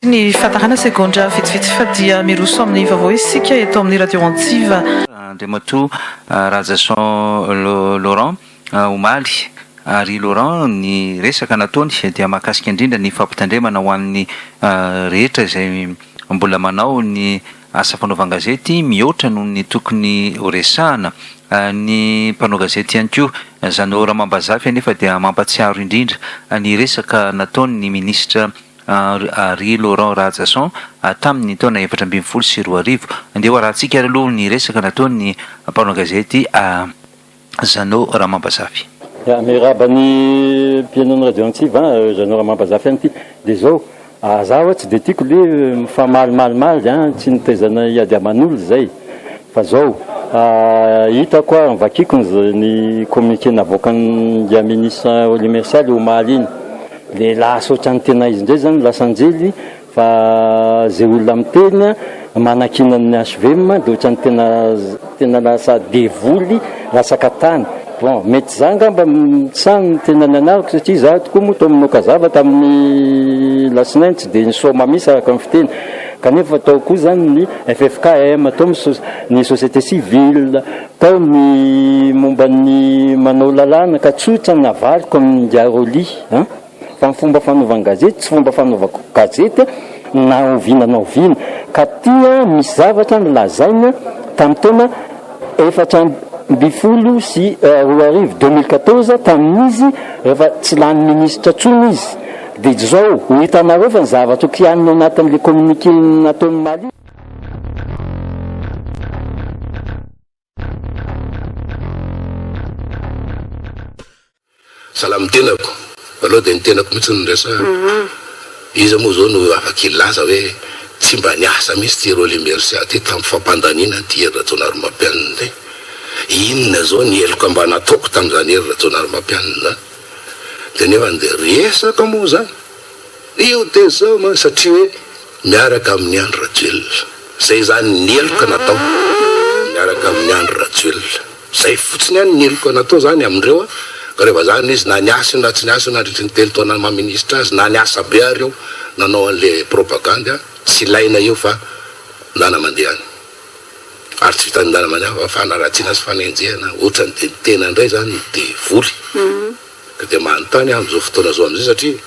Ny fahatarana segondra vitsivitsy fa dia miroso amin'ny vaovao isika eto amin'ny Radio Antsiva. Andriamatoa Rajason Laurent omaly ary Laurent ny resaka nataony dia mahakasika indrindra ny fampitandremana ho an'ny rehetra izay mbola manao ny asa fanaovan-gazety mihoatra noho ny tokony ho resahana ny mpanao gazety ihany koa. Izany ora amam-bazafy anefa dia mampatsiaro indrindra ny resaka nataon'ny Ministra Ary Laurent Rahajason, hatramin'ny taona efatra ambin'ny folo sy roa arivo. Andeha ho arahantsika ary aloha ny resaka nataon'ny mpanao gazety Jeannot Ramambazafy. Ya, miarahaba ny mpihainon'ny radio antsiva an, Jeannot Ramambazafy ihany ity. Dia izao, za ho'a tsy dia tiako ilay mifamalmalimaly an, tsy nitaizana hiady aman'olona izay. Fa izao, hitako ary novakiako ny communiqué navoakan'i Yaminis Olimersal omaly iny. Dia lasa ohatran'ny tena izy indray zany lasa anjely fa zay olona miteny manakiana ny HVM dia ohatran'ny tena tena lasa devoly lasaka tany. Bon, mety za angamba sa ny tena nianarako satria za tokoa moa tao amin'ny Okazava tamin'ny Alatsinainy tsy dia nisaoma mihitsy araka ny fiteny kanefa tao koa zany ny FFKM tao ny société civile, Tao ny momba ny manao lalàna ka tsotra ny havariko amin'i Ngaroli an! Fa ny fomba fanaovan-gazety tsy fomba fanaovako gazety na oviana na oviana. Ka tia misy zavatra nolazaina tamin'ny taona efatra ambin'ny folo sy roa arivo, deux mille quatorze, tamin'izy rehefa tsy lany minisitra intsony izy. Dia izao, ho hitanareo fa ny zavatra kianina ao anatin'ilay communiqué nataon'i Mali. Salama ny tenako aloha dia ny tenako mihitsy no resahana. Iza moa izao no afaka hilaza hoe tsy mba niasa mihitsy ity Rolly Mercia ity tamin'ny fampandaniana an'ity Hery Rajaonarimampianina ity? Inona izao ny heloka mba nataoko tamin'izany Hery Rajaonarimampianina izany? Dia nefa dia resaka moa izany? Io dia izao mantsy satria hoe miaraka amin'i Andry Rajoelina. Izay izany ny heloka natao miaraka amin'i Andry Rajoelina. Izay fotsiny ihany ny heloka natao izany amindreo an! Ka reva izany izy na niasa io na tsy niasa io nandritry ny telo taona maha ministra azy, na niasa be ary io nanao an'ilay propagandy an! Tsy ilaina io fa ndana mandeha any. Ary tsy vitan'ny ndana mandeha fa fanaratsiana sy fanenjehana. Ohatrany dia ny tena indray izany no devoly. Ko dia manontany aho amin'izao fotoana izao amin'izay satria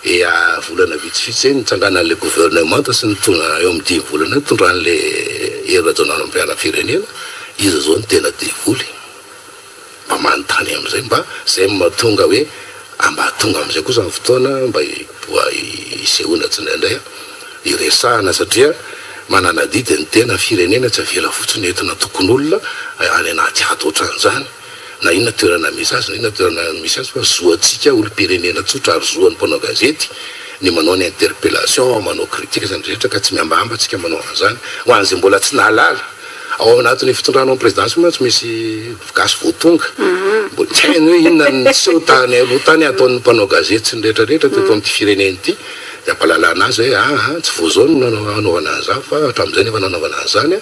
efa volana vitsivitsy zay nitsanganan'ilay gouvernemanta sy ny tonga eo amin'ny dimy volana nitondran'ilay Hery Rajaonarimampianampirenena, iza izao no tena devoly? Mba manontany amin'izay mba izay no mahatonga hoe mba tonga amin'izay kosa ny fotoana mba hiboa hisehoana tsindraindray hiresahana satria manana adidy ny tena firenena tsy avela fotsiny entina tokon'olona any anaty ady ohatran'izany. na inona toerana misy azy na inona toerana misy azy fa zo antsika olom-pirenena tsotra ary zo an'ny mpanao gazety ny manao ny interpellation, manao critique izany rehetra ka tsy mihambahamba tsika manao an'izany ho an'izay mbola tsy nahalala ao anatin'ny fitondranao ny prezidansy moa tsy misy gasy vao tonga mbola tsy hainy hoe inona ny niseho tany aloha tany ataon'ny mpanao gazety sy ny rehetra rehetra teto amin'ity firenena ity dia ampahalalana azy hoe aa tsy vao izao no nanaovana an'izany fa hatramin'izay no efa nanaovana an'izany an!